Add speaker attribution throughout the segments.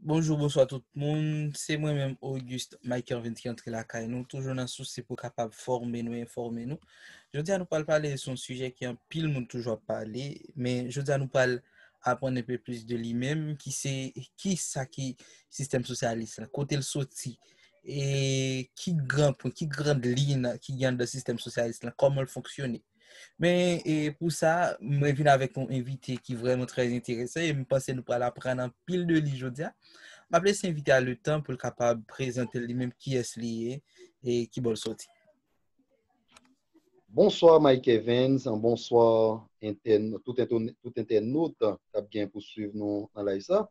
Speaker 1: Bonjou, bonswa tout moun. Se mwen menm Auguste Mike Ervin ki antre lakay nou. Toujou nan sousi pou kapab fòme nou, enfòme nou. Jodi a nou pral pale son sijè ki an pil moun toujou ap pale. Men jodi a nou pral aprann enpe plis de li menm ki se ki sa ki sistèm sosyalis la, kote l soti. E ki gran pou, ki gran liy nan ki gen nan sistèm sosyalis la, kòman l fonksyone. Men e pou sa, mwen vin avèk yon envite ki vreman trè enteresan e m panse nou pral aprann anpil de li jodi a. M ap lese envite a le tan pou l kapab prezante li menm kiyès li ye e ki bò l soti.
Speaker 2: Bonswa Mike Evens, bonswa tout entènot k ap gen pou swiv nou nan live sa.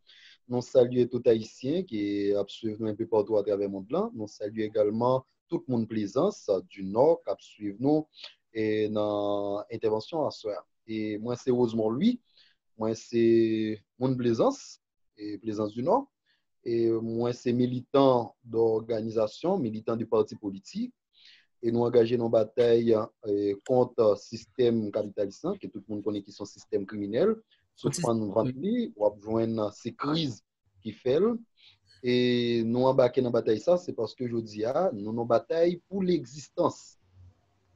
Speaker 2: Nou salye tout Ayisyen ki ap swiv nou enpi patou atravè mond lan. Nou salye egalman tout moun plezans du nord kap swiv nou nan entèvansyon aswè a e mwen se Rosemond Louis mwen se moun plezans e plezans du nord e mwen se militan dòganizasyon militan de pati politik e nou angaje nan batèy kont sistèm kapitalis lan ke tout moun konnen ki son sistèm kriminèl sou fann vant li wap jwenn se kriz ki fè l, e nou anbake nan batay sa, se paske jodi a, nou nan batay pou legzistans.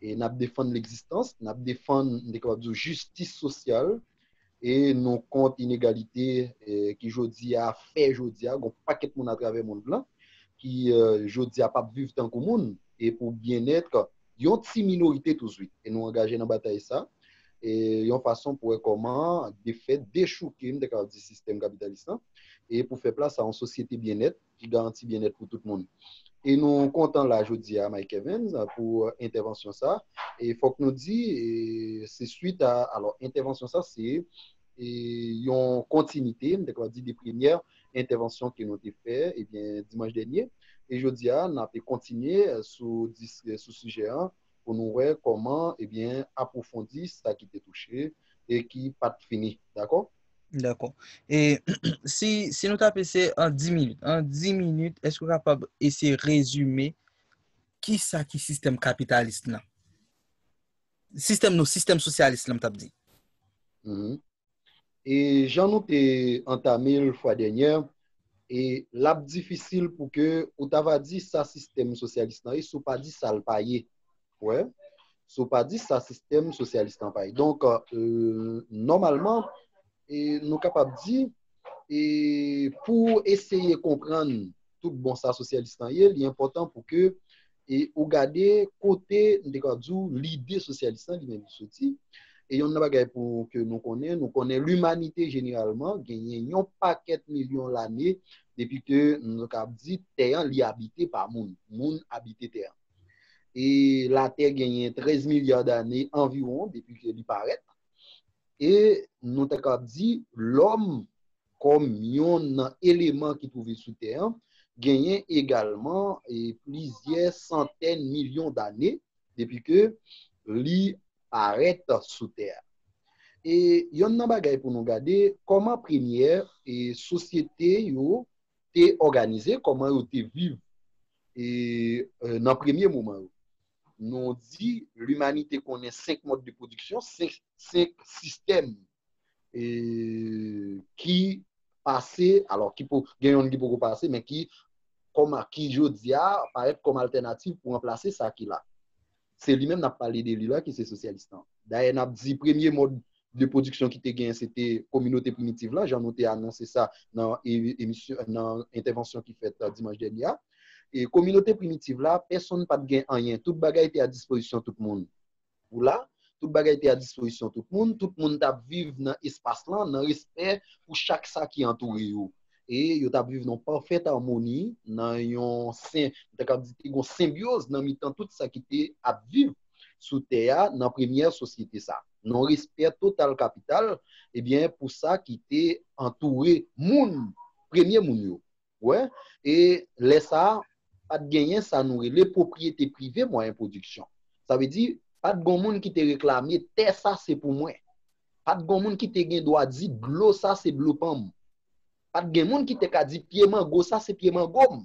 Speaker 2: E n ap defann legzistans, n ap defann, m te kapab di w, jistis sosyal, e nou kont inegalite ki jodi a fè jodi a, gon pakèt moun atravè mond lan, ki jodi a pa p viv tankou moun, e pou byennèt yon ti minorite touswit. E nou angaje nan batay sa e yon fason pou wè kòman de fè dechouke, m te kapab di, sistèm kapitalis lan e pou fè plas a yon sosyete byennèt ki garanti byennèt pou tout moun. E nou kontan la jodi a Mike Evans pou entèvansyon sa e fòk nou di se swit a, alò entèvansyon sa se yon kontinite, m ta kapab di de premyè entèvansyon ke nou te fè dimanch dènye. E jodi a n ape kontinye sou sijè an pou nou wè kòman apwofondi sa ki te touche e ki pa t fini. Dakò? Dakò.
Speaker 1: E si nou ta ap eseye an di minit, an di minit èske ou kapab eseye rezime kisa ki sistèm kapitalist lan? Sistèm nou, sistèm sosyalis la m t ap di.
Speaker 2: E jan nou te antame l fwa dènyè, e l ap difisil pou ke ou ta va di sa sistèm sosyalis lan ye si w pa di sa l pa ye. Ou wè? Si w pa di sa sistèm sosyalis lan pa ye. Donk, nòmalman, nou kapab di. e pou w eseye konprann tout bon sa sosyalis lan ye, li enpòtan pou ke e ou gade kote, m te ka di w, lide sosyalis lan li menm li soti. E yon nan bagay pou ke nou konnen, nou konnen limanite jeneralman genyen yon pakèt milyon lane depi ke nou te kab di tè an li abite pa moun. Moun abite tè an. E latè genyen 13 milya dane anviwon depi ke li parèt. E nou ta kab di lòm kòm yonn nan eleman ki twouve sou tè an genyen egalman plizyè santèn milyon dane depi ke li parèt sou tè a. E yonn nan bagay pou nou gade kòman premyè sosyete yo te òganize, kòman yo te viv nan premye moman yo. nou di limanite konnen 5 mòd de pwodiksyon, 5 sistèm ki pase, alò gen youn ki poko pase, men ki kòm a ki jodi a parèt kòm altènativ pou ranplase sa ki la. Se li menm n ap pale de li la ki se sosyalistan. Dayè n ap di premye mòd de pwodiksyon ki te genyen se te kominote primitiv la, jan nou te anonse sa nan entèvansyon ki fèt dimanch dènye a. E kominote primitiv la, pèsonn pa t gen anyen. Tout bagay te a dispozisyon tout moun. Ou la? Tout bagay te a dispozisyon tout moun. Tout moun t ap viv nan espas lan, nan respè pou chak sa ki antoure yo. E yo t ap viv nan yon pafèt amoni, nan yon sen, m ta kab di te gen yon senbyoz nan mitan tout sa ki te ap viv sou tè a nan premyè sosyete sa a. Non respè total kapital ebyen pou sa ki te antoure moun, premye moun yo. Ou wè? E lè sa a, pa t genyen sa nou rele pwopriyete prive mwayen pwodiksyon. Sa vle di, pa t gon moun ki te reklame tè sa se pou mwen. Pa t gon moun ki te gen dwa di dlo sa se dlo pa m. Pa t gen moun ki te ka di pye mango sa se pye mango m.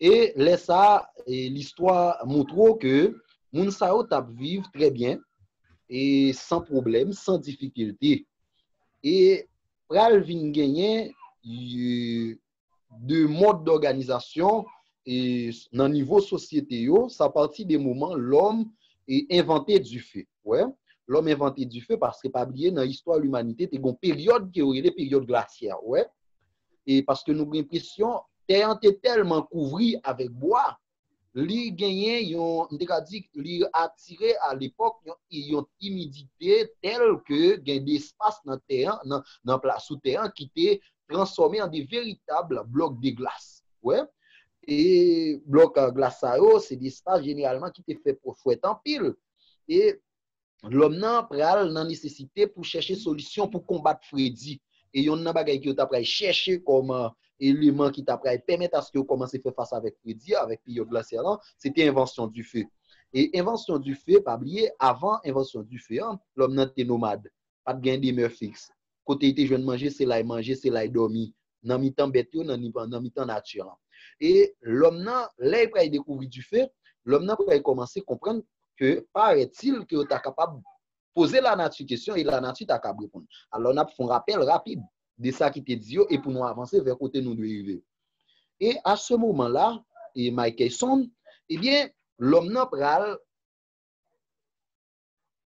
Speaker 2: E lè sa a, listwa montre w ke moun sa yo t ap viv trè byen, e san pwoblèm, san difikilte. E pral vin genyen de mòd dòganizasyon nan nivo sosyete yo, sa pati de moman lòm envante dife. Wè, lòm envante dife paske pa bliye nan istwa limanite te gen yon peryòd ke yo rele peryòd glasyè. Wè? e paske nou gen presyon tè an te tèlman kouvri avèk bwa li genyen yon m te ka di li atire a lepòk yon imidite tèl ke gen de espas nan tè an nan pla sou tè an ki te transfòme an de veritab blòk de glas wè e blòk glas sa yo se de espas jeneralman ki te fè pwòs fwèt anpil e. lòm nan pral nan nesesite pou chèche solisyon pou konbat fredi, e yonn nan bagay ke yo ta pral chèche kòm eleman ki ta pral pèmèt aske yo kòmanse fè fas avèk fredi a, avèk peryòd glasyan lan, se te envansyon dife. E envansyon dife, pa bliye, avan envansyon dife an, lòm nan te nomad, pa t gen demè fiks. Kote li te jwenn manje, se la li manje, se la li dòmi, nan mitan bèt yo, nan mitan nati an. E lòm nan, lè li pral dekouvri dife, lòm nan pral kòmanse konprann ke parètil ke yo ta kapab poze lanati kesyon e lanati ta kab reponn. Alò n ap fè yon rapèl rapid de sa ki te di yo e pou nou avanse vè kote nou dwe rive. E a se moman la, e Mike Tyson, ebyen, lòm nan pral.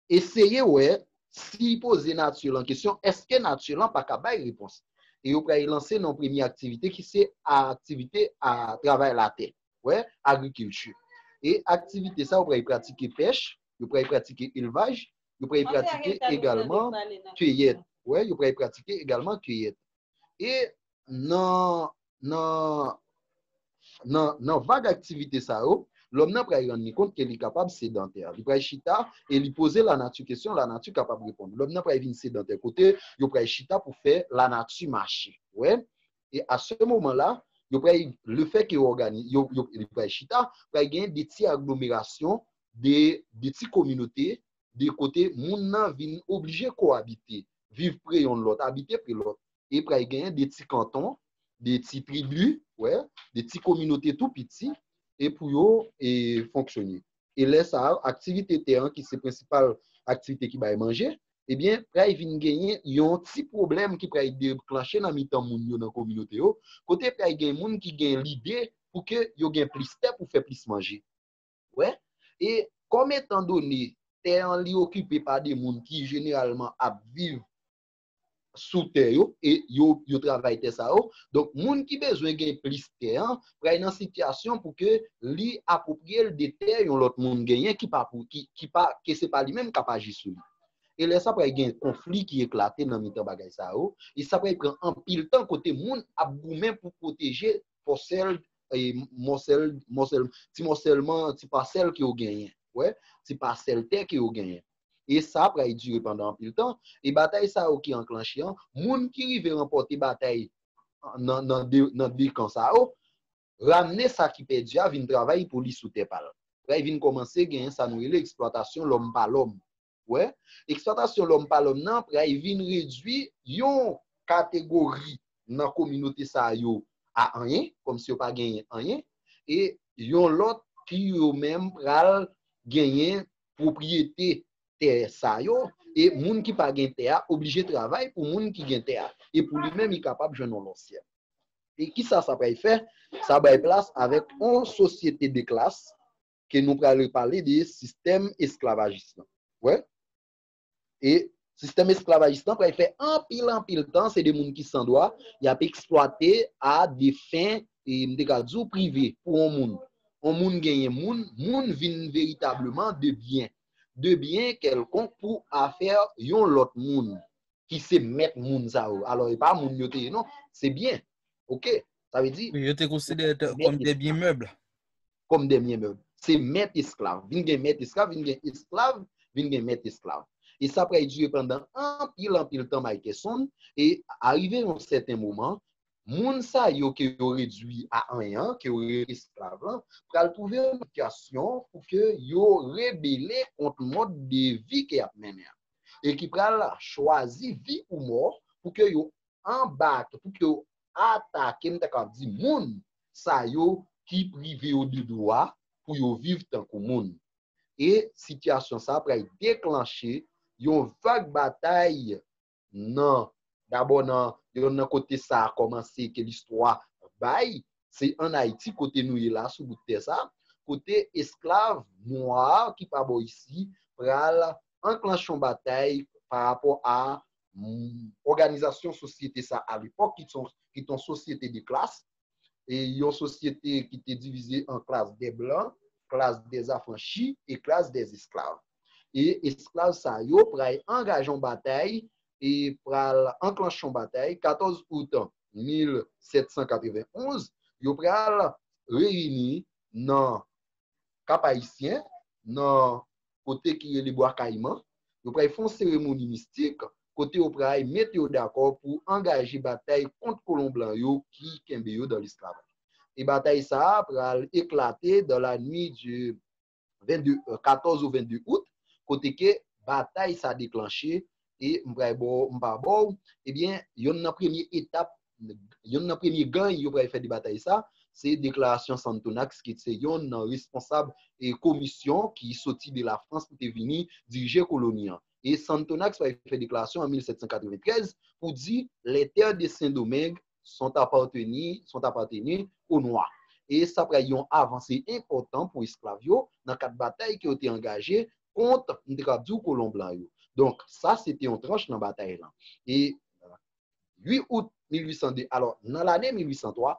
Speaker 2: Eseye wè si poze nature lan kesyon eske nature lan pa ka bay repons. E yo pral lanse nan yon premye aktivite ki se aktivite a travay latè, wè agriculture. E aktivite sa yo pral pratike pèch, yo pral pratike elvaj, yo pral pratike egalman kiyèt, wè yo pral pratike egalman kiyèt. E nan Nan vag aktivite sa yo, lòm nan pral rann li kont ke li kapab sedantè. Li pral chita e li poze lanati kesyon, lanati kapab reponn. Lòm nan pral vin sedantè kote yo pral chita pou fè lanati mache. Ou wè? E a se moman la, yo pral, le fè ke ògani, yo, yo, li pral chita, pral gen de ti aglomerasyon, de, de ti kominote, de kote moun nan vin oblije ko-abite, viv pre yonn lòt, abite pre lòt. e pral genyen de ti kanton, de ti tribi, wè, de ti kominote tou piti e pou yo fonksyone. E lè sa a, aktivite tè an ki se prensipal aktivite ki bay manje, ebyen pral vin genyen yon ti pwoblèm ki pral deklanche nan mitan moun yo nan kominote yo, kote pral gen moun ki gen lide pou ke yo gen plis tè pou fè plis manje. Wè? E kòm etan done tè an li okipe pa de moun ki jeneralman ap viv sou tè yo e yo travay tè sa yo. Donk moun ki bezwen gen plis tè an pral nan sitiyasyon pou ke li apwopriye l de tè yon lòt moun genyen ki pa pou ki pa ke se pa li menm k ap aji sou li. E lè sa pral gen konfli ki eklate nan mitan bagay sa yo e sa pral pran anpil tan kote moun ap goumen pou pwoteje pòsèl e mòsèl mòsèl ti mòsèlman ti pasèl ke yo genyen wè ti pasèl tè ke yo genyen. e sa pral dire pandan anpil tan, e batay sa yo ki anklanche an, moun ki rive ranpòte batay nan 2 kan sa yo, ramne sa ki pèdi a vin travay pou li sou tè pa l. Pral vin kòmanse genyen sa nou rele eksplwatasyon lòm pa lòm. Ou wè? Eksplwatasyon lòm pa lòm nan pral vin redui yon kategori nan kominote sa yo a anyen, kòmsi yo pa genyen anyen, e yon lòt ki yo menm pral genyen pwopriyete tè sa yo e moun ki pa gen tè a oblije travay pou moun ki gen tè a e pou li menm li kapab jwenn yon lòt syèl. E kisa sa pral fè? Sa bay plas avèk yon sosyete de klas ke nou pral repale de sistèm esklavajis lan. Wè? E sistèm esklavajis lan pral fè anpil anpil tan se de moun ki san dwa y ap eksplwate a de fen, m te ka di w, prive pou yon moun. Yon moun genyen moun, moun vin veritableman de byen. De byen kèlkonk pou afè yon lòt moun ki se mèt moun sa yo. Alò e pa moun yo te ye non, se byen. Ok? Sa vle di. Yo te konsidere
Speaker 1: kòm de byen mèb. kòm dè mye mèb.
Speaker 2: Se mèt esklav. Vin gen mèt esklav, vin gen esklav, vin gen mèt esklav. E sa pral dire pandan anpil anpil tan Mikeson. E arive yon sèten moman, moun sa yo ke yo redui a anyen an, ke yo rele esklav lan, pral twouve yon sitiyasyon pou ke yo rebele kont mòd de vi ke y ap mennen an. E ki pral chwazi vi ou mò pou ke yo anbake, pou ke yo atake, m ta ka di moun, sa yo ki prive yo de dwa pou yo viv tankou moun. E sitiyasyon sa pral deklanche yon vag batay nan, dabò nan yon nan kote sa kòmanse ke listwa bay, se an Ayiti kote nou ye la sou bout tè sa, kote esklav nwa ki pa bò isi pral anklanche yon batay parapò a òganizasyon sosyete sa a lepòk ki te yon sosyete de klas, yon sosyete ki te divize an klas de blan, klas de afranchi e klas de esklav. E esklav sa yo pral angaje yon batay, pral anklanche yon batay, 14 out 1791, yo pral reyini nan Kap Ayisyen, nan kote ki rele Bwa Kayiman, yo pral fè yon seremoni mistik kote yo pral mete yo dakò pou angaje batay kont kolon blan yo ki kenbe yo dan lesklavaj. E batay sa a pral eklate dans la nuit du 22, 14 au 22 août, kote ke batay sa deklanche e m pral ba w, m pa ba w, ebyen yonn nan premye etap, yonn nan premye gany yo pral fè de batay sa, se deklarasyon Santonax ki se yonn nan responsab komisyon ki soti de Lafrans pou te vini dirije koloni an. E Santonax pral fè deklarasyon an 1793 pou di les terres de Saint-Domingue, sont appartenus, sont appartenus aux Noirs. E sa pral yon avanse enpòtan pou esklav yo nan kad batay ke yo te angaje kont, m te kab di w, kolon blan yo. Donk, sa se te yon tranch nan batay lan. E 8 out 1802, alò, nan lane 1803,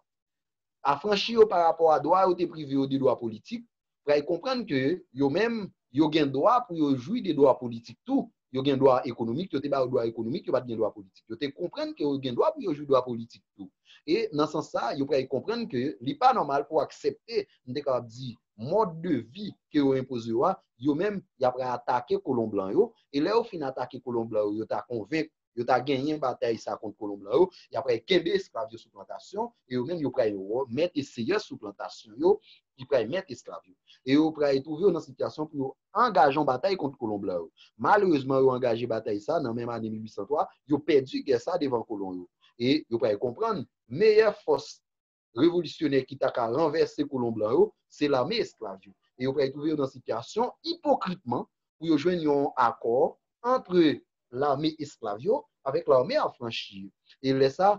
Speaker 2: afranchi yo pa rapò a dwa yo te prive yo de dwa politik, pral konprann ke yo menm, yo gen dwa pou yo jwi de dwa politik tou, yo gen dwa ekonomik, yo te ba yo dwa ekonomik, yo pa t gen dwa politik. Yo te konprann ke yo gen dwa pou yo jwi dwa politik tou. E nan sans sa, yo pral konprann ke li pa nòmal pou aksepte, m te kapab di, mòd de vi ke yo enpoze yo a, yo menm, y ap pral atake kolon blan yo, e lè yo fin atake kolon blan yo, yo ta konvenk Yo ta genyen batay sa kont kolon blan yo, y ap pral kenbe esklav yo sou plantasyon, e yo menm yo pral mèt e seyè sou plantasyon yo, ki pral mèt esklav yo. E yo pral twouve yo nan sitiyasyon pou yo angaje yon batay kont kolon blan yo. Malerezman yo angaje batay sa nan menm ane 1803, yo pèdi gè sa devan kolon yo. E yo pral konprann meyè fòs revolisyonè ki ta ka ranvèse kolon blan yo, se lame esklav yo. E yo pral twouve yo nan sitiyasyon, ipokritman, pou yo jwenn yon akò antre lame esklav yo avèk lame afranchi yo. E lè sa,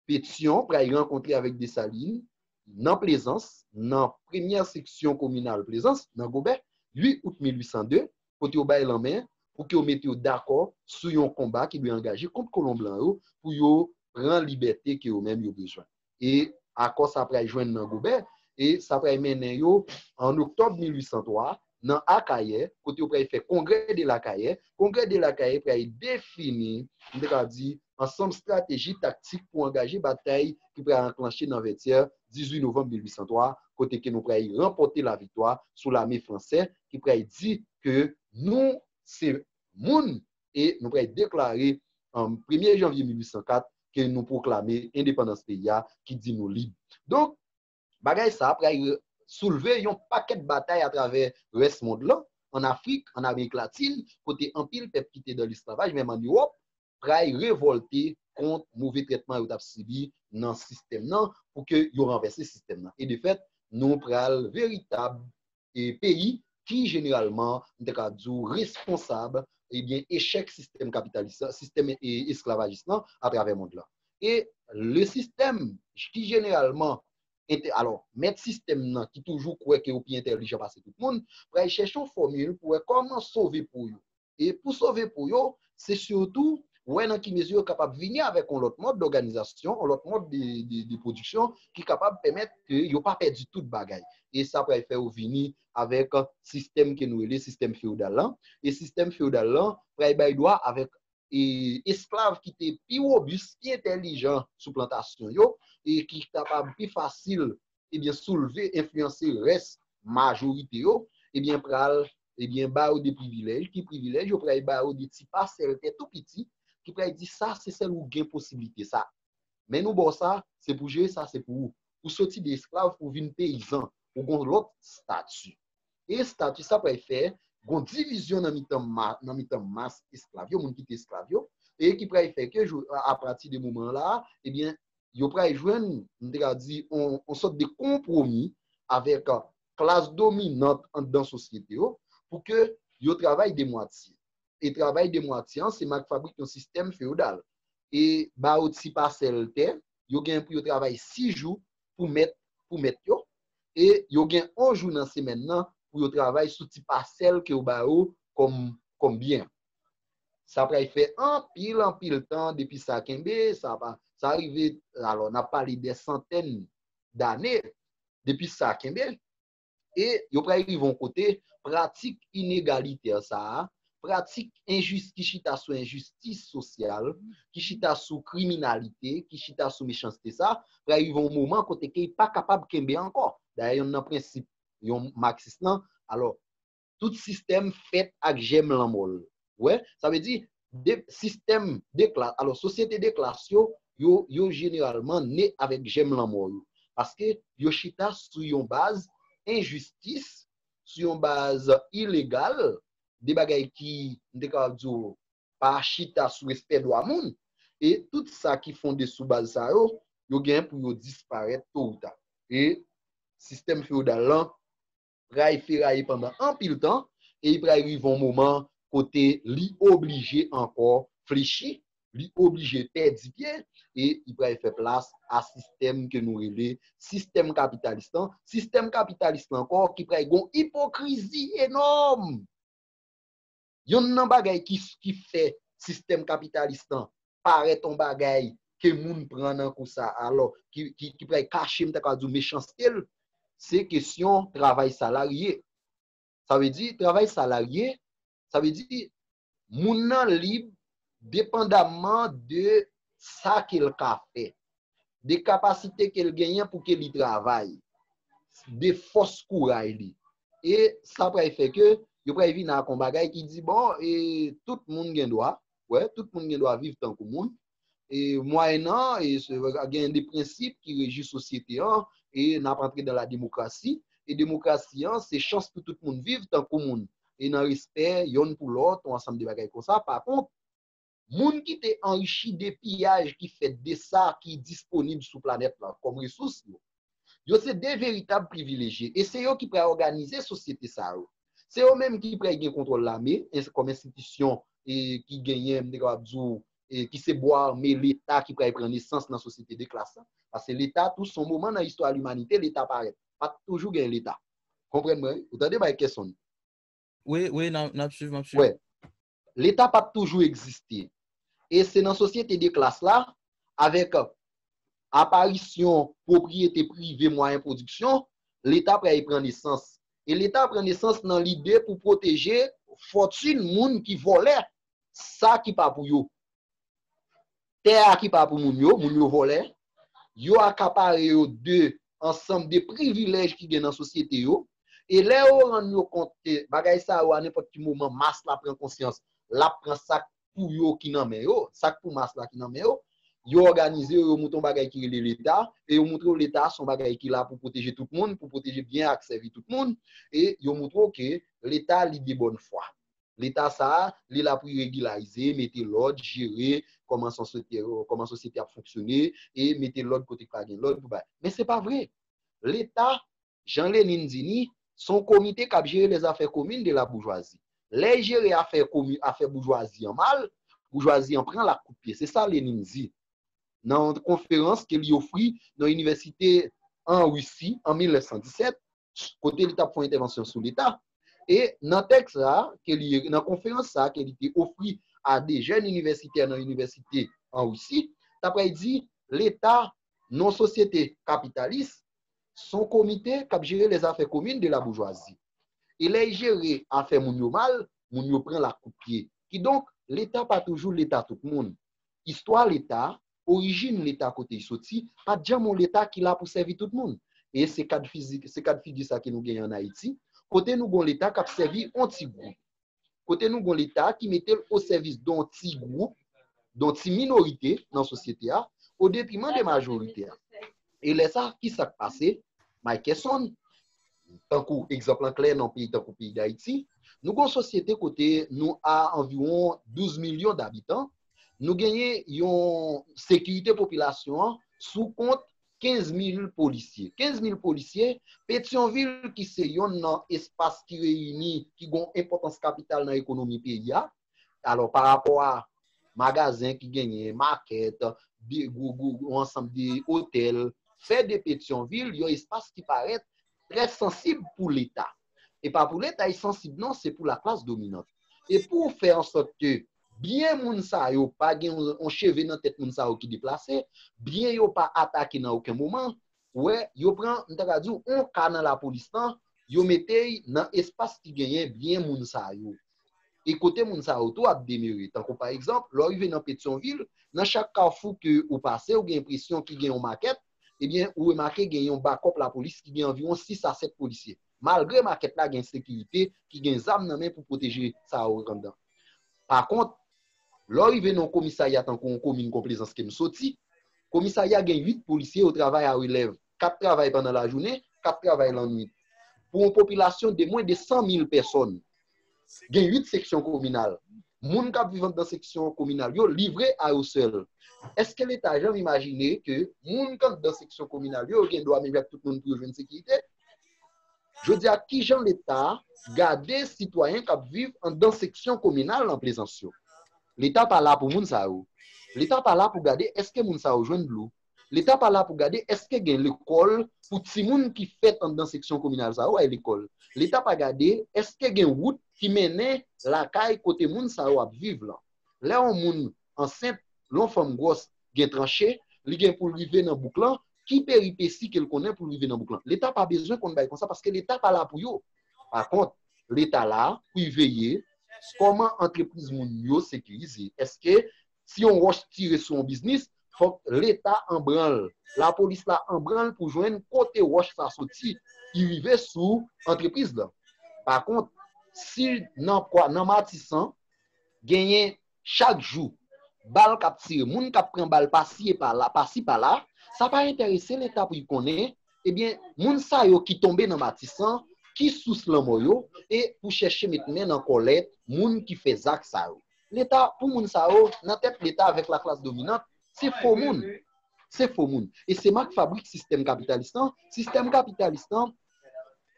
Speaker 2: Petyon pral rankontre avèk Desalin nan Plezans, nan premyè seksyon kominal Plezans, nan Gobè, 8 out 1802, kote yo bay lanmen pou ke yo mete yo dakò sou yon konba ki dwe angaje kont kolon blan yo pou yo pran libète ke yo menm yo bezwen. E akò sa pral jwenn nan Gobè e sa pral mennen yo an Oktòb 1803 nan Akayè kote yo pral fè Kongrè de Lakayè. Kongrè de Lakayè pral defini, m te ka di, ansanm strateji taktik pou angaje batay ki pral anklanche nan Vètyè 18 novanm 1803 kote ke nou pral ranpòte laviktwa sou lame franse ki pral di ke nou se moun e nou pral deklare premye janvye 1804 ke nou pwoklame endepandans peyi a ki di nou lib. Donk, bagay sa pral soulve yon pakèt batay atravè rès mond lan, an Afrik, an Amerik Latin, kote anpil pèp ki te dan lesklavaj, menm an Ewòp, pray revolte kont move trètman yo tap sibi nan sistèm nan pou ke yo ranvèse sistèm nan e de fèt nou pral veritab e peyi ki jeneralman m ta ka di w responsab e byen echèk sistèm kapitalis la sistèm e esklavajis lan a travè mond lan e le sistèm ki jeneralman entè alò mèt sistèm nan ki toujou kwè ke yo pi entèlijan pase tout moun pray chèche yon fòmil pou wè kòman sove po yo. e pou sove po yo, se sitou wè nan ki mezi yo kapab vini avèk yon lòt mòd dòganizasyon, yon lòt mòd de pwodiksyon ki kapab pèmèt ke yo pa pèdi tout bagay. E sa pral fè yo vini avèk sistèm ke nou rele sistèm feodal lan, e sistèm feodal lan pral bay dwa avèk esklav ki te pi wobis, pi entèlijan sou plantasyon yo, e ki kapab pi fasil ebyen soulve, enfliyanse rès majorite yo, ebyen pral, ebyen ba yo de privilèj, ki privilèj yo pral ba yo de ti pasèl tè tou piti, ki pral di sa se sèl ou gen posiblite sa. Men nou ba w sa, se pou jere sa se pou ou. Ou soti de esklav pou vin peyizan, ou gon lòt stati. E stati sa pral fè gon divizyon nan mitan ma, nan mitan mas esklav yo, moun ki te esklav yo, e ki pral fè ke jou, apati de moman la, ebyen yo pral jwenn, m te ka di, yon sòt de konpwomi avèk klas dominant anndan sosyete yo pou ke yo travay de mwatye. E travay de mwatye an se mak fabrik yon sistèm feyodal. E ba yo ti pasèl tè, yo gen pou yo travay si jou pou mèt pou mèt yo, e yo gen yon jou nan semèn nan pou yo travay sou ti pasèl ke yo ba yo kòm byen. Sa pral fè anpil anpil tan depi sa kenbe, sa rive, alò n ap pale dè santèn dane depi sa kenbe, e yo pral rive yon kote, pratik inegalitè sa a, pratik enjis ki chita sou enjistis sosyal, ki chita sou kriminalite, ki chita sou mechanste sa a, pral rive yon moman kote ke li pa kapab kenbe ankò. Dayè yonn nan prensip yon maksis lan, alò, tout sistèm fèt ak jèm lanmò l. Ou wè? Sa vle di, de, sistèm de klas, alò sosyete de klas yo, yo, yo jeneralman ne avèk jèm lanmò yo. Paske yo chita sou yon baz enjistis, sou yon baz ilegal, de bagay ki, m te kapab di w, pa chita sou respè dwa moun. E tout sa ki fonde sou baz sa yo, yo gen pou yo disparèt to ou ta. E sistèm feyodal lan pral feraye pandan anpil tan e li pral rive yon moman kote li oblije ankò flechi, li oblije pèdi pye e li pral fè plas a sistèm ke nou rele sistèm kapitalis lan, sistèm kapitalis lan ankò ki pral gen yon ipokrizi enòm. Yonn nan bagay ki ki fè sistèm kapitalis lan parèt on bagay ke moun pran nan kou sa alò ki ki pral kache m ta ka di w mechanste l, se kesyon travay salarye. Sa vle di travay salarye, sa vle di moun nan lib depandamman de sa ke l ka fè. de kapasite ke l genyen pou ke li travay, de fòs kouray li. E sa pral fè ke yo pral vin ak yon bagay ki di bon, e tout moun gen dwa, wè, tout moun gen dwa viv tankou moun, e mwayennan, e gen de prensip ki reji sosyete an, e n ap antre dan la demokrasi, e demokrasi an se chans pou tout moun viv tankou moun, e nan respè yonn pou lòt, yon ansanm de bagay konsa. Pa kont, Moun ki te anrichi de piyaj ki fèt de sa ki disponib sou planèt lan kòm resous yo, yo se de veritab privilejye e se yo ki pral òganize sosyete sa yo. Se yo menm ki pral gen kontwòl lame kòm enstitisyon ki genyen, m te kapab di w, ki se bwa ame Leta ki pral pran nesans nan sosyete de klas la. Pase Leta tou s on moman nan istwa limanite Leta parèt. Pa t toujou gen Leta. Konprann mwen wi? Ou tande Mike Kesson? Wi,
Speaker 1: wi, n ap swiv, m ap swiv.
Speaker 2: Leta pa t toujou egziste. E se nan sosyete de klas la, avèk aparisyon pwopriyete prive mwayen pwodiksyon, Leta pral pran nesans. E Leta pran nesans nan lide pou pwoteje fòtin moun ki vòlè sa ki pa pou yo. Tè a ki pa pou moun yo, moun yo vòlè, yo akapare yo de ansanm de privilèj ki gen nan sosyete yo, e lè yo rann yo kont ke bagay sa yo a nenpòt ki moman mas la pran konsyans, l ap pran sa k pou yo ki nan men yo, sa k pou mas la ki nan men yo, yo òganize yo, yo monte yon bagay ki rele Leta, e yo montre w Leta se yon bagay ki la pou pwoteje tout moun, pou pwoteje byen ak sèvi tout moun, e yo montre w ke Leta li de bòn fwa. Leta sa a, li la pou regilarize, mete lòd, jere kòman sosyete ap fonksyone e mete lòd kote k pa gen lòd pou bay. Men se pa vre. Leta, jan Lenine di ni, se yon komite k ap jere les affaires communes de la bourgeoisie. Lè l jere afè boujwazi an mal, boujwazi an pran l ak kout pye. Se sa Lenine di nan yon konferans ke li ofri nan inivèsite an Russie an 1917. kote li t ap fè yon entèvansyon sou leta e nan tèks sa a ke li nan konferans sa a ke li te ofri a 2 jèn inivèsitè nan inivèsite an Russie ta pral di leta non sosyete kapitalis s on komite k ap jere lèzafè komin de laboujwazi e lè y jere afè moun yo mal moun yo pran l ak kout pye kidonk leta pa toujou leta tout moun istwa leta Orijin Leta kote y soti, pa t janm yon Leta ki la pou sèvi tout moun. E se kad fizik, se kad figi sa ke nou genyen an Ayiti, kote nou gen yon Leta k ap sèvi yon ti gwoup. Kote nou gen yon Leta ki mete l o sèvis don ti gwoup, don ti minorite nan sosyete a, o detriman de majorite a. E lè sa, ki sa k pase? Mikeson, Tankou egzanp lan klè nan peyi tankou peyi Dayiti, nou gen yon sosyete kote nou a anviwon 12 milyon dabitan, Nou genyen yon sekirite popilasyon an sou kont 15 mil polisye. 15 mil polisye, Petyonvil ki se yonn nan espas ki reyini, ki gon enpòtans kapital nan ekonomi peyi a, alò pa rapò a magazen ki genyen, makèt, yon ansanm de otèl, fè de Petyonvil yon espas ki parèt trè sansib pou leta e pa pou leta y sansib non se pou laklas dominant e pou w fè ansòt ke byen moun sa yo pa gen yon cheve nan tèt moun sa yo ki deplase byen yo pa atake nan oken moman ou wè yo pran m ta ka di w yon ka nan lapolis lan yo mete y nan espas ki genyen byen moun sa yo e kote moun sa yo tou ap demere tankou pa egzanp lè w rive nan petyonvil nan chak kafou ke ou pase ou gen enpresyon ki gen yon makèt ebyen ou remake gen yon bakòp lapolis ki gen anviwon 6 a 7 polisye. Malgre makèt la gen sekirite ki gen zam nan men pou pwoteje sa yo anndan. Pakont, lè w rive nan yon komisarya tankou yon komin kon Plezans ke m soti, komisarya gen 8 polisye yo travay a relèv, 4 travay pandan lajounen, 4 travay lannwit. Pou yon popilasyon de mwen de 100 mil pèsòn. Gen 8 seksyon kominal. Moun k ap viv anndan seksyon kominal yo livre a yo sèl. Èske Leta janm imajine ke moun k anndan seksyon kominal yo gen dwa menm jan ak tout moun pou yo jwenn sekirite? Jodi a, ki jan Leta gade sitwayen k ap viv anndan seksyon kominal nan Plezans yo? Leta pa la pou moun sa yo. Leta pa la pou gade èske moun sa yo jwenn dlo, Leta pa la pou gade èske gen lekòl pou timoun ki fèt anndan seksyon kominal sa yo al lekòl. Leta pa gade èske gen wout ki mennen lakay kote moun sa yo ap viv lan. Lè yon moun ansent, lè yon fanm gwòs gen tranche, li gen pou l rive nan bouk lan, ki peripesi ke l konnen pou l rive nan bouk lan? Leta pa bezwen konn bagay konsa paske Leta pa la pou yo. Pa kont, Leta la pou y veye kòman antrepriz moun yo sekirize. Èske Si yon wòch tire sou yon biznis, fòk Leta anbran l, lapolis la anbran l pou jwenn kote wòch sa soti ki rive sou antrepriz lan. Pa kont, si nan Matisan, genyen chak jou bal k ap tire, moun k ap pran bal pasi e pala, pasi pala, sa pa enterese Leta pou l konnen, ebyen, moun sa yo ki tonbe nan Matisan, ki sous lanmò yo, e pou chèche met men nan kòlèt moun ki fè zak sa yo. Leta pou moun sa yo nan tèt leta avèk laklas dominant se fo moun. Se fo moun. E se mak fabrik sistèm kapitalis lan, sistèm kapitalis lan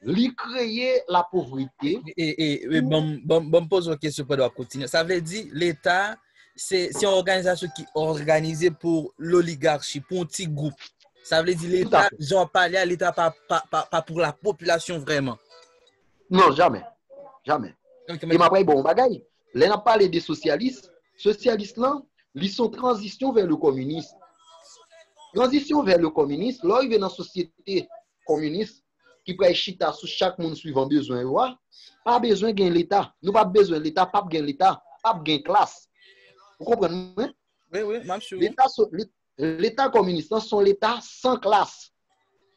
Speaker 2: li kreye lapovrete. E
Speaker 1: banm poze yon kesyon pandan wap kontinye. Sa vle di leta se yon òganizasyon ki òganize pou loligarchi, pou yon ti gwoup. Sa vle di leta, jan wap pale a, leta pa pou la popilasyon vreman. Non,
Speaker 2: jamè. Jamè. E map bay bon yon bagay. Lè n ap pale de sosyalis, sosyalis lan, li son tranzisyon vè le kominis. Tranzisyon vè le kominis, lè w rive nan sosyete kominis ki pral chita sou chak moun swivan bezwen yo a, pa bezwen gen leta. Nou pa p bezwen leta, pa p gen leta, pa p gen klas. Ou konprann mwen? Wi,
Speaker 1: wi, m ap swiv ou. Leta
Speaker 2: kominis lan son leta san klas.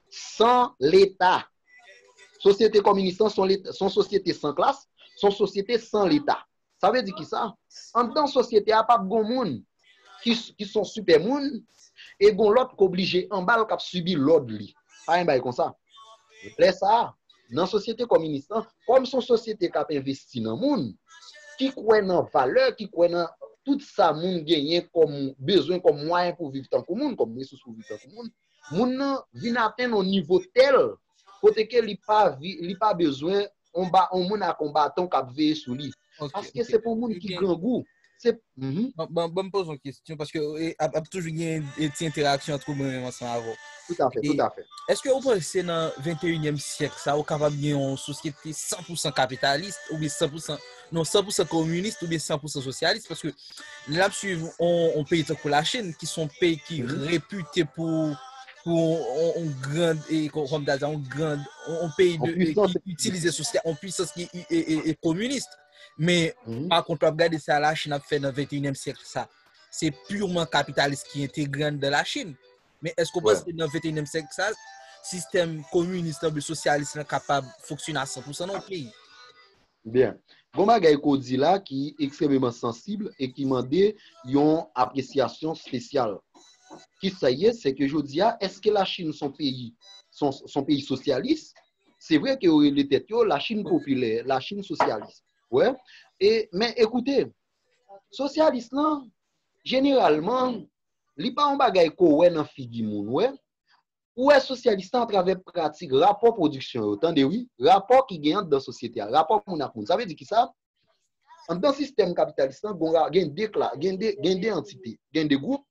Speaker 2: San leta. Sosyete kominis lan son sosyete san klas, son sosyete san leta. Sa vle di ki sa? Anndan sosyete a pap gon moun ki son sipè moun e gon lòt k oblije anba l k ap sibi lòd li. Pa gen bagay konsa. Lè sa a, nan sosyete kominis lan, kòm son sosyete k ap envesti nan moun, ki kwè nan valè, ki kwè nan tout sa moun genyen kòm bezwen, kòm mwayen pou viv tankou moun, kòm resous pou viv tankou moun, moun nan vin atenn yon nivo tèl kote ke li pa bezwen yon moun ak yon baton k ap veye sou li. Paske se pou moun ki grangou.
Speaker 1: Ban m poze yon kesyon, paske ap toujou gen ti enteraksyon antrew mwen menm ansanm avèw. Tout afè, tout afè.
Speaker 2: Eske ou panse
Speaker 1: nan venteyinyèm syèk sa ou kapab gen yon sosyete 100 pousan kapitalist oubyen 100 pousan non san pousan kominis ou byen san pousan sosyalis paske lè ap swiv on peyi tankou la chine ki son peyi ki repute pou on grand e konm ta di an on grand on peyi ki itilize sosyal on pwisans ki e kominis men pa kont wap gade sa la chine ap fè nan 21 èm syèk sa se purman kapitalis ki entegre an dan la chine men eske ou panse nan 21 èm syèk sa sistèm kominis nan bi sosyalis nan kapab foksyon nan san pousan nan on peyi Byen.
Speaker 2: Gon bagay ke w di la ki ekstrememan sansib e ki mande yon apresyasyon spesyal. Ki sa ye? Se ke jodi a, eske la Chinn son peyi? Son peyi sosyalis? Se vre ke yo rele tèt yo la Chinn popilè, la Chinn sosyalis. Wè? E, men ekoute, sosyalis lan, jeneralman, li pa yon bagay ke w wè nan figi moun, wè? Ou wè sosyèlis la atravè pratik, rapò pwodiksyon yo, tande wi, rapò ki gen anndan sosyete a, rapò moun ak moun. Sa vle di ki sa? Anndan sistèm kapitalis la, gen de kla, gen de, gen de antite, gen de gwoup,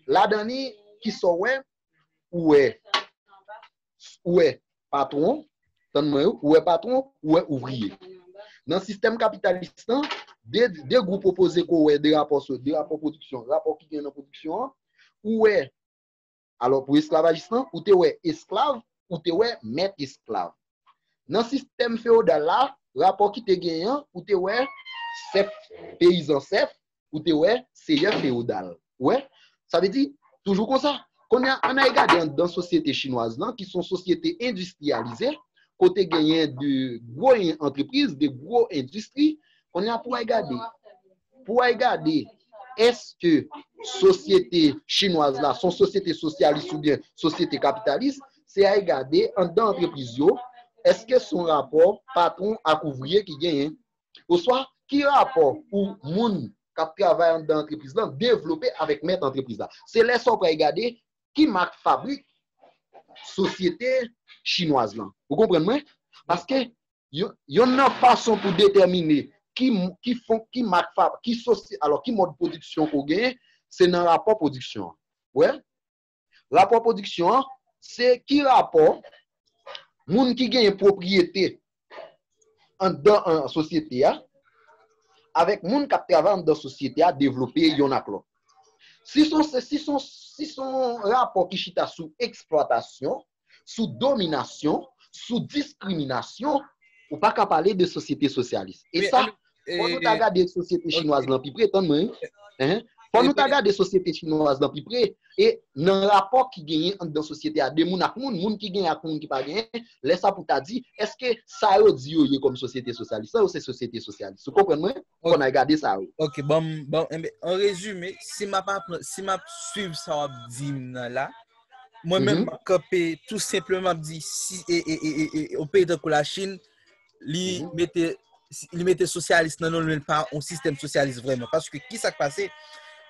Speaker 2: ladan li, ki sa w wè? Ou wè, ou wè patwon, tand mwen wi, ou wè patwon, ou wè ouvriye. Nan sistèm kapitalis la, de, de gwoup opoze ke w wè, de rapò so, de rapò pwodiksyon, rapò ki gen nan pwodiksyon an, ou wè, Alò pou esklavajis lan, ou te wè esklav, ou te wè mèt esklav. Nan sistèm fewodal la, rapò ki te genyen an, ou te wè sèf, peyizan sèf, ou te wè seyè fewodal. Ou wè? Sa vle di, toujou konsa. Kounye a, ann al gade anndan sosyete chinwaz lan, ki se yon sosyete endistriyalize, kote genyen de gwo antrepriz, de gwo endistri, kounye a pou w al gade. Pou ay gade èske sosyete chinwaz la son sosyete sosyalis oubyen sosyete kapitalis, se ay gade anndan antrepriz yo, èske son rapò patwon ak ouvriye ki genyen? Oswa ki rapò pou moun k ap travay anndan antrepriz lan devlope avèk mèt antrepriz la? Se lè sa ou pral gade ki mak fabrik sosyete chinwaz lan. Ou konprann mwen? Paske Yonn nan fason pou detèmine ki ki mak fab, ki sosyete, alò ki mòd pwodiksyon ke w genyen, se nan rapò pwodiksyon an. Wè? Rapò pwodiksyon an, se ki rapò moun ki genyen pwopriyete anndan sosyete a avèk moun k ap travay anndan sosyete a devlope yonn ak lòt. Si s on rapò ki chita sou eksplwatasyon, sou dominasyon, sou diskriminasyon, ou pa ka pale de sosyete sosyalis. E sa, fò nou ta gade sosyete chinwaz lan pi pre, tann mwen wi, fò nou ta gade sosyete chinwaz lan pi pre, e nan rapò ki genyen anndan sosyete a de moun ak moun, moun ki genyen ak moun ki pa genyen, lè sa pou ta di, èske sa yo di yo ye kòm sosyete sosyalis la, yo se sosyete sosyalis. Ou konprann mwen? Fò n al gade sa wi. Ok, banm, banm,
Speaker 1: anrezime, si m ap, si m ap swiv sa w ap di m nan la, Mwen menm map kanpe tou senpleman map di si e e e e e yon peyi tankou la Chine li mete li mete sosyalis nan non men pa yon sistèm sosyalis vreman. Paske ki sa k pase?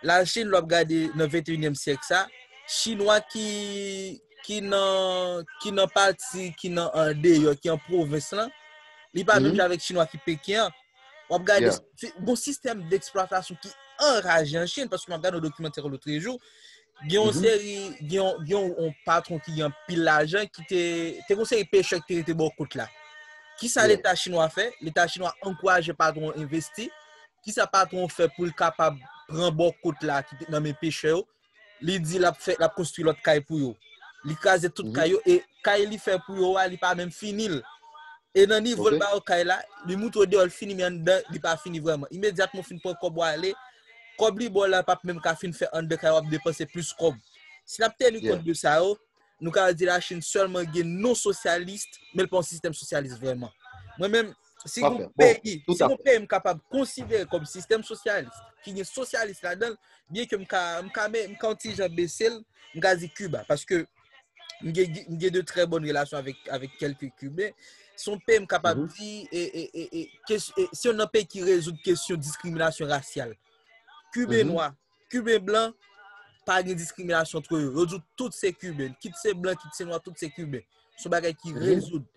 Speaker 1: La Chine lò ap gade nan 21èm syèk sa, chinwa ki ki nan ki nan pati ki nan an deyò ki an pwovens lan, li pa menm jan avèk chinwa ki Peken an. Wap gade se gon sistèm deksplwatasyon ki anraje an Chine paske map gade yon dokimantè lotrejou Gen yon Mhm. seri, gen yon, gen yon yon patron ki gen pil lajan ki te, te kon seri pechè ki te rete bò kout la. Ki sa Yeah. leta chinwa fè? Leta chinwa ankouraje patron investi. Ki sa patron fè pou l kapab pran bò kout la ki te nan men pechè yo? Li di lap fè, lap konstwi lòt kay pou yo. Li kraze tout Mhm. kay yo e kay li fè pou yo a, li pa menm fini l. E nan nivo l Ok. ba yo kay la, li moutre yo deyò l fini men anndan li pa fini vrèman. Imedyatman ou fin pran kòb ou ale, Kòb li ba w la pap menm ka fin fè anndan kay ou ap depanse plis kòb. Si n ap teni kont de sa yo, nou ka di Lachin sèlman gen non sosyalis men l pa yon sistèm sosyalis vrèman. Mwen menm, si gen yon peyi, si gen yon peyi m kapab konsidere kòm sistèm sosyalis, ki gen sosyalis ladan l, byen ke m ka, m ka, m ka yon ti jan bese l, m ka di Kiba. Paske. m gen de trè bon relasyon avèk kelke Kiben, son pè m kapab mhm. di, e, se yon nan pè ki rezoud kesyon diskriminasyon rasyal. Kiben mhm. nwa, Kiben blan, pa gen diskriminasyon trè yo. Yo di tout se Kiben, kit se blan, kit se nwa, tout se Kiben. Son bagay ki mhm. rezoud.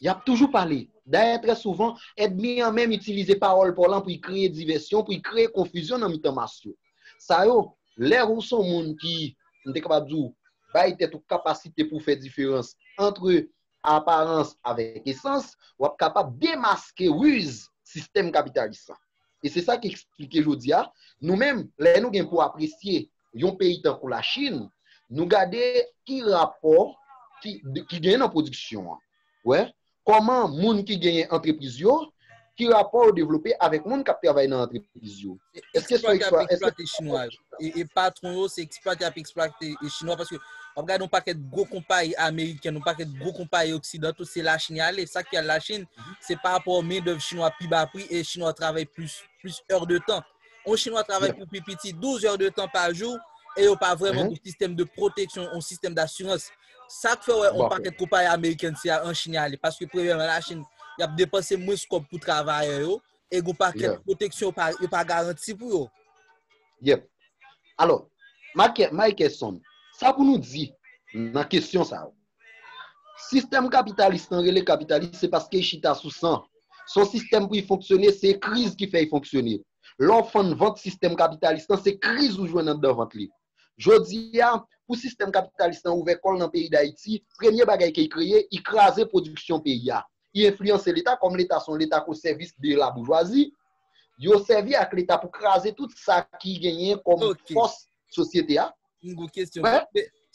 Speaker 2: Y ap toujou pale. Dayè, trè souvan, èdmi an menm itilize pawòl pòlan pou y kreye divèsyon, pou y kreye konfizyon nan mitan mas yo. Sa yo, lè ou s on moun ki, m te kapab di w, bay tèt ou kapasite pou w fè diferans antre aparans avèk esans, w ap kapab demaske riz sistèm kapitalis la. E se sa ki esplike jodi a, nou menm, lè nou gen pou apresye yon peyi tankou la Chine, nou gade ki rapò ki genyen nan pwodiksyon an. Wè, kòman moun ki genyen antrepriz yo, ki rapò yo devlope avèk moun kap travay nan antrepriz yo. Eske se eksplwate yap eksplwate chinwa
Speaker 1: yo. E patwon yo se eksplwate yap eksplwate chinwa paske wap gade yon pakèt gwo konpayi ameriken, yon pakèt gwo konpayi oksidanto se la Chine yale. Sak fè yal la Chine, se pa rapò men dèv chinwa pi ba pri e chinwa travay plis èr de tan. yon chinwa travay pou pi piti 12 heures de tan pa jou, e yo pa vrèman mhm. gen sistèm de proteksyon, yon sistèm d'assurans. Sa k fè wè yon pakèt kompayi amerikèn se an Chin y ale, paske premyèman la Chin, y ap depanse mwens kòb pou travayè yo, e yon pakèt proteksyon yo pa garanti pou yo. Yep.
Speaker 2: Alò, Mike Son, sa pou nou di nan kesyon sa yo? Sistèm kapitalis lan rele kapitalis se paske y chita sou san. S on sistèm pou y fonksyone, se kriz ki fè y fonksyone. Lè w fann vant sistèm kapitalis lan, se kriz ou jwenn anndan vant li. Jodi a, pou sistèm kapitalis lan ouvè kò l nan peyi Dayiti, premye bagay ke y kreye, y kraze pwodiksyon peyi a. Y enfliyanse Leta, kòm Leta s on Leta k o sèvis de laboujwazi, yo sèvi ak Leta pou kraze tout sa ki genyen kòm fòs sosyete a. M gwo kestyon.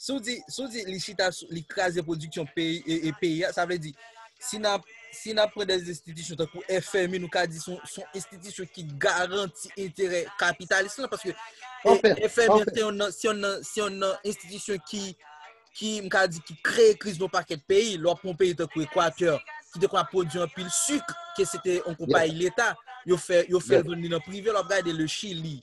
Speaker 1: Sou di, sou di li chita, li kraze pwodiksyon peyi, e peyi a, sa vle di, si nan, si nan pran de estitisyon tankou FMI, nou ka di son, son estitisyon ki garanti enterè kapitalis lan, paske FMI se yon nan, se yon nan, se yon nan estitisyon ki, ki, m ka di, ki kreye kriz nan pakèt peyi, lò pran peyi tankou Ekwatè, ki te kwa pwodi anpil sik, ke se te yon konpayi leta, yo fè, yo fè l vin nan prive, lò ap gade le Chili.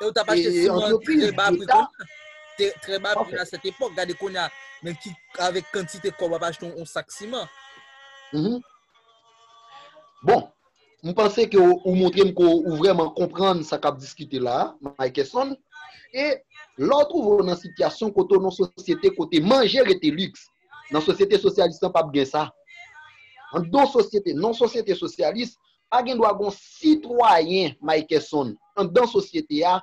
Speaker 2: E ou tap
Speaker 1: achte si mwen tre ba pri kon. Tre ba pri a set epok. Gade kon ya. Men ki avek kantite kob wap achte yon sak si man. Mhm.
Speaker 2: Bon. M panse ke ou montre m ke ou vreman konprann sa kap diskite la, Mikeson. E lè ou twouve ou nan sityasyon kote ou nan sosyete kote manje rete liks. Nan sosyete sosyalis lan pap gen sa. An do sosyete, nan sosyete sosyalis, Pa gen dwa gon sitwayen Mikeson andan sosyete a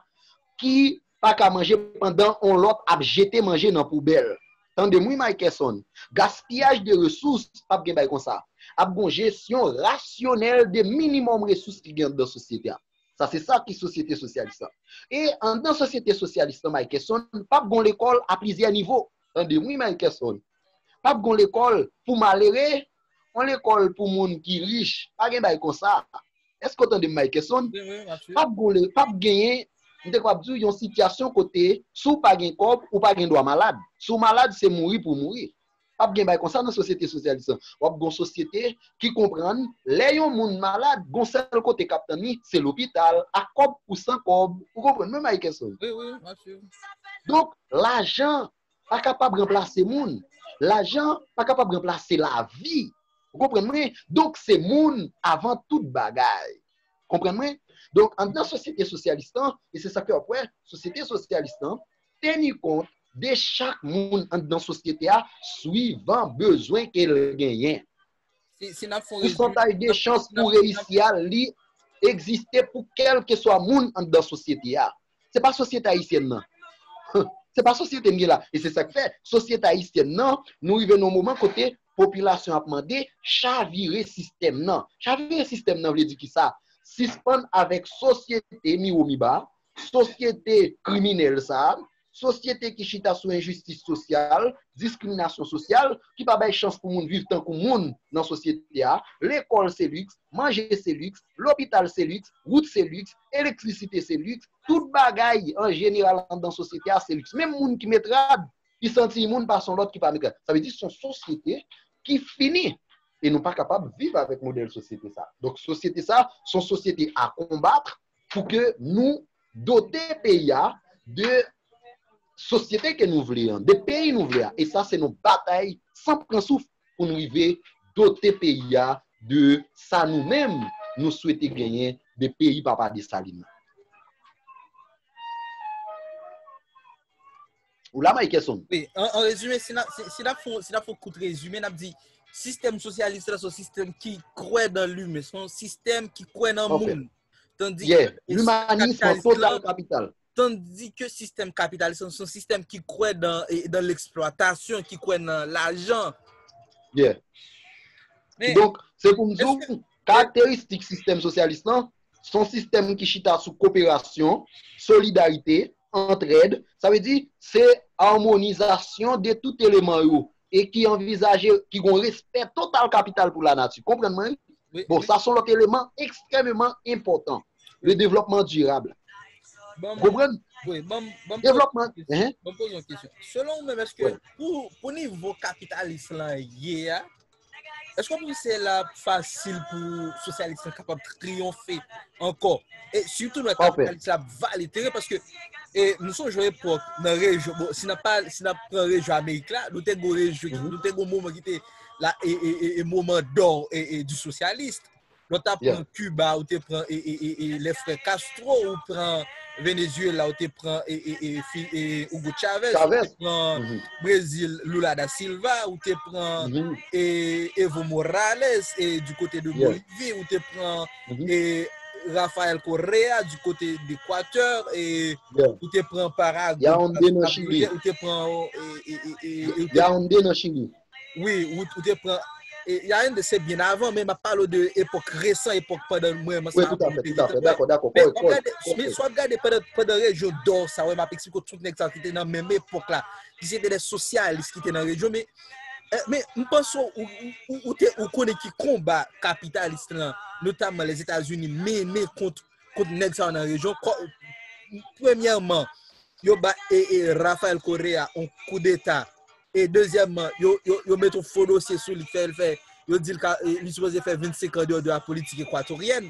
Speaker 2: ki pa ka manje pandan on lòt ap jete manje nan poubèl. Tande m wi Mikeson. Gaspiyaj de resous pap gen bay konsa. Ap gon jesyon rasyonèl de minimòm resous ki gen andan sosyete a. Sa se sa ki sosyete sosyalis lan. E andan sosyete sosyalis lan Mikeson pap gon lekòl a plizyè nivo. Tande m wi Mikeson. Pap gon lekòl pou malere, on lekòl pou moun ki rich, pa gen bay konsa. Èske ou tande m Mikeson? Pap genyen, m te kapab di w, yon sitiyasyon kote si w pa gen kòb, ou pa gen dwa malad. Si w malad, se mouri pou w mouri. Pap gen bay konsa nan sosyete sosyalis lan. W ap gon sosyete ki konprann lè yon moun malad, gon sèl kote k ap tann li, se lopital, ak kòb ou san kòb. Ou konprann mwen Mikeson?
Speaker 1: Donk,
Speaker 2: lajan pa kapab ranplase moun, lajan pa kapab ranplase lavi, ou konprann mwen, donk se moun avan tout bagay, konprann mwen, donk anndan sosyete sosyalis lan, e se sa fè w ap wè sosyete sosyalis lan teni kont de chak moun anndan sosyete a swivan bezwen ke l genyen, pousantaj de chans pou reyisi a li egziste pou kèlkeswa moun anndan sosyete a. Se pa sosyete ayisyèn nan. Se pa sosyete m gen la. E se sa k fè, sosyete ayisyèn nan, nou rive nan yon moman kote popilasyon ap mande chavire sistèm nan. Chavire sistèm nan vle di ki sa? Sispann avèk sosyete miwo miba, sosyete kriminèl sa a, sosyete ki chita sou enjistis sosyal, diskriminasyon sosyal, ki pa bay chans pou moun viv tankou moun nan sosyete a. Lekòl se liks, manje se liks, lopital se liks, wout se liks, Elektrisite se liks, tout bagay an jeneral anndan sosyete a se liks. Menm moun ki met rad, li santi imoun pase yon lòt ki pa met rad. Sa vle di se yon sosyete ki fini. E nou pa kapab viv avèk modèl sosyete sa a. Donk sosyete sa a, se yon sosyete a konbat pou ke nou dote peyi a de sosyete ke nou vle an, de peyi nou vle a. E sa se yon batay san pran souf. pou n rive dote peyi a de sa nou menm nou swete genyen de peyi papa Desalin nan. Ou la Maykeson? Wi, an rezime,
Speaker 1: si n ap fè yon kout rezime, n ap di, sistèm sosyalis la se yon sistèm ki kwè nan limen, se yon sistèm ki
Speaker 2: kwè
Speaker 1: nan moun. Ye, limanism total
Speaker 2: kapital.
Speaker 1: tandi ke sistèm kapitalis lan se yon sistèm ki kwè dan leksplwatasyon, ki kwè nan lajan.
Speaker 2: Yeah.
Speaker 1: Donk, se pou m
Speaker 2: di w, karakteristik sistèm sosyalis lan, se yon sistèm ki chita sou koperasyon, solidarite, antrèd, sa vle di, se amonizasyon de tout eleman yo, e ki anvizaje, ki gen yon respè total kapital pou lanati. Konprann mwen wi? Bon, sa son lòt
Speaker 1: eleman
Speaker 2: ekstrèmeman enpòtan. Le devlòpman dirab. Bon,
Speaker 1: Konprann?
Speaker 2: Wi,
Speaker 1: bon,
Speaker 2: bon m poze yon
Speaker 1: kesyon. Selon ou menm, eske pou nivo kapitalis lan ye a, eske ou panse se la fasil pou sosyalis lan kapab triyonfe ankò? E sitou lè kapitalis lan ap vale
Speaker 2: teren,
Speaker 1: paske E nou son jwe epok nan rejyon, bon, si nan pal, si nan pran rejyon Amerik la, nou te gwo rejyon, mhm. nou te gwo moman ki te la, e, e, e, e moman do, e, e, di sosyalist. Nou ta pran Cuba, ou te pran, e, e, e, e, le fre Castro, ou pran Venezuela, ou te pran, e, e, e, fi, e, Hugo Chavez, ou te pran mhm. Brazil, Lula da Silva, ou te pran, mhm. e, Evo Morales, e, du kote de Bolivie, ou te pran, e Rafael Correa di kote dekwatè e ou te pran para Yaoundé nan chili ou te pran
Speaker 2: Yaoundé nan chili wi ou
Speaker 1: te pran Yaoundé se byen avan men map pale de epok resan epok pandan mwen mwen sa avan mwen te
Speaker 2: dakò dakò kòy kòy men sou
Speaker 1: ap gade pandan rejyon dò sa wè map eksplike tout nèg sa ki te nan menm epok la ki se te de sosyalis ki te nan rejyon men Eh, men, m panse ou, ou, ou, ou te ou konnen ki konba kapitalis lan, notamman les États-Unis mennen kont kont nèg sa yo nan rejyon. Ko- Premyèman, yo ba e, e Rafael Correa on kou deta. E dezyèmman, yo yo yo met on fo dosye sou li fè l fè yo di l ka e, li sipoze fè 25 an deyò de la politik ekwatoryen.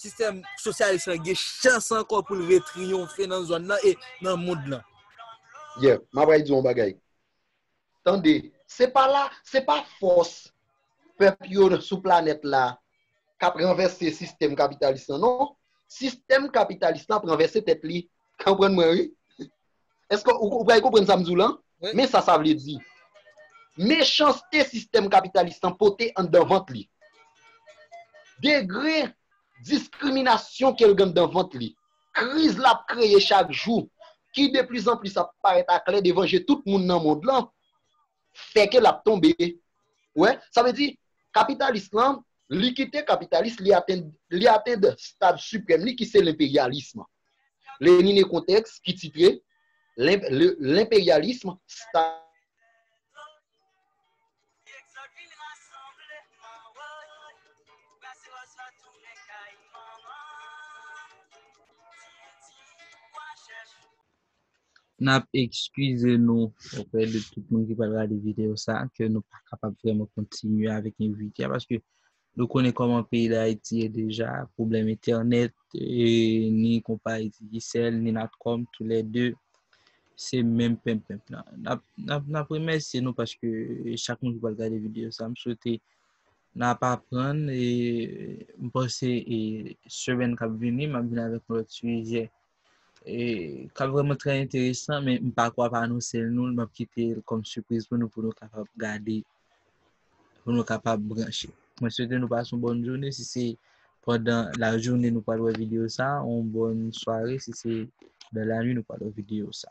Speaker 1: sistèm sosyalis lan gen chans ankò pou l retriyonfe nan zòn nan e nan mond lan. Yeah, m
Speaker 2: apral di w yon bagay. Tande, se pa la, se pa fòs pèp yo sou planèt la k ap ranvèse sistèm kapitalis lan non. Sistèm kapitalis lan ap ranvèse tèt li Konprann mwen wi. Eske ou pral konprann sa m di w lan? Men sa sa vle
Speaker 1: di.
Speaker 2: Mechanste sistèm kapitalis lan pote anndan vant li. Degre diskriminasyon ke l gen anndan vant li. Kriz l ap kreye chak jou, ki de plis an plis ap parèt aklè devan je tout moun nan mond lan, fè ke l ap tonbe. Ou wè? Sa vle di, kapitalis lan, li kite kapitalis, li atenn stad siprèm li ki se lenperyalism. Lenine kontèks ki titre L'imperyalism Stalinyen.
Speaker 1: N ap ekskize nou oprè de tout moun ki pral gade videyo sa a ke nou pa kapab vrèman kontinye avèk envite a paske Nou konnen kòman peyi Dayiti ye deja, pwoblèm entènèt, ni konpayi Digicel, ni Natcom, tou lè 2, se menm penmpenmp lan. N ap remèsye nou paske chak moun ki pral gade videyo sa, m swete n ap aprann, e m panse e semèn k ap vini, m ap vini avèk yon lòt sijè kap vreman trè enteresan men m pa kwa ap anonse l nou l map kite l kòm sipriz pou nou pou nou kapab gade pou nou kapab branche mwen swete nou pase yon bon jounen si se pandan la jounen nou pral wè video sa yon bon sware si se nan la nwi nou pral wè video sa